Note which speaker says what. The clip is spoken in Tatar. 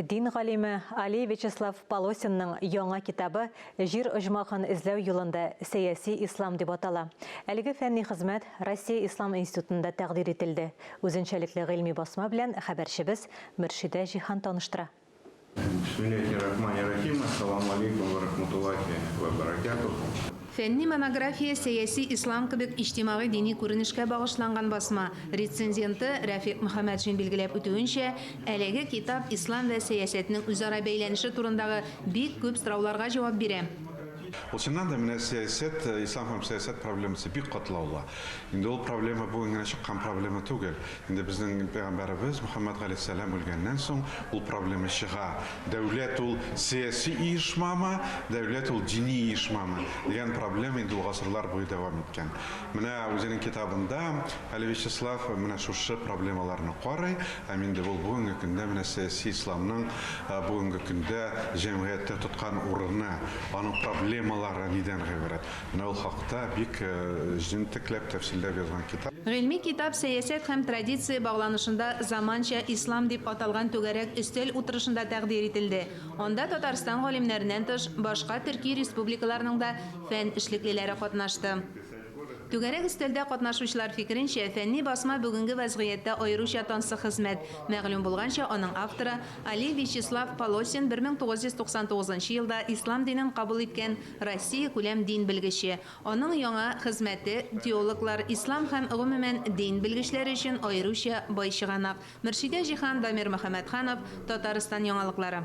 Speaker 1: Дин галиме Али Вячеслав Полосинның яңа китабы Җир оҗмахын эзләү юлында сәяси ислам дип атала. Әлеге фәнни хезмәт Россия ислам институтында тәкъдир ителде. Үзенчәлекле гыйльми басма белән хәбәрчебез Мөршидә Җиһан таныштыра. Бисмиллахи рахмани
Speaker 2: рахим, Ассаламу алейкум вә рахматуллахи вә бәрәкәтүһ. Фәнни монография
Speaker 3: Сәяси ислам кебек иҗтимагый-дини күренешкә багышланган басма. Рецензенты Рәфикъ Мөхәммәтшин билгеләп үтүенчә, әлеге китап ислам вә сәясәтнең үзара бәйләнеше турындагы бик күп сорауларга җавап бирә. Ул чыннан
Speaker 4: да менә сәясәт, ислам һәм сәясәт проблемасы бик катлаулы. Инде ул проблема бүген генә чыккан проблема түгел. Инде безнең пәйгамбәребез Мөхәммәд галәйһиссәлам үлгәннән соң ул проблема чыга. Дәүләт ул сәяси оешмамы, дәүләт ул дини оешмамы дигән проблема инде ул гасырлар буе дәвам иткән. Менә үзенең китабында әле Вячеслав менә шушы проблемаларны карый һәм инде ул бүгенге көндә менә сәяси исламның бүгенге көндә җәмгыятьтә тоткан урыны, аның проблемалары нидән гыйбарәт. Менә ул хакта бик җентекләп тәфсилләп язган китап. Гыйльми китап Сәясәт
Speaker 3: һәм традиция багланышында заманча ислам дип аталган түгәрәк өстәл утырышында тәкъдир ителде. Анда Татарстан галимнәреннән тыш, башка төрки республикаларның да фән эшлеклеләре катнашты. Түгәрәк өстәлдә катнашучылар фикеренчә, фәнни басма бүгенге вәзгыятьтә аеруча тансык хезмәт. Мәгълүм булганча, аның авторы, Али Вячеслав Полосин 1999 елда ислам динен кабул иткән Россиякүләм дин белгече. Аның яңа хезмәте теологлар, ислам һәм, гомумән, дин белгечләре өчен аеруча бай чыганак. Мөршидә Җиһан, Дамир Мөхәммәтханов, Татарстан яңалыклары.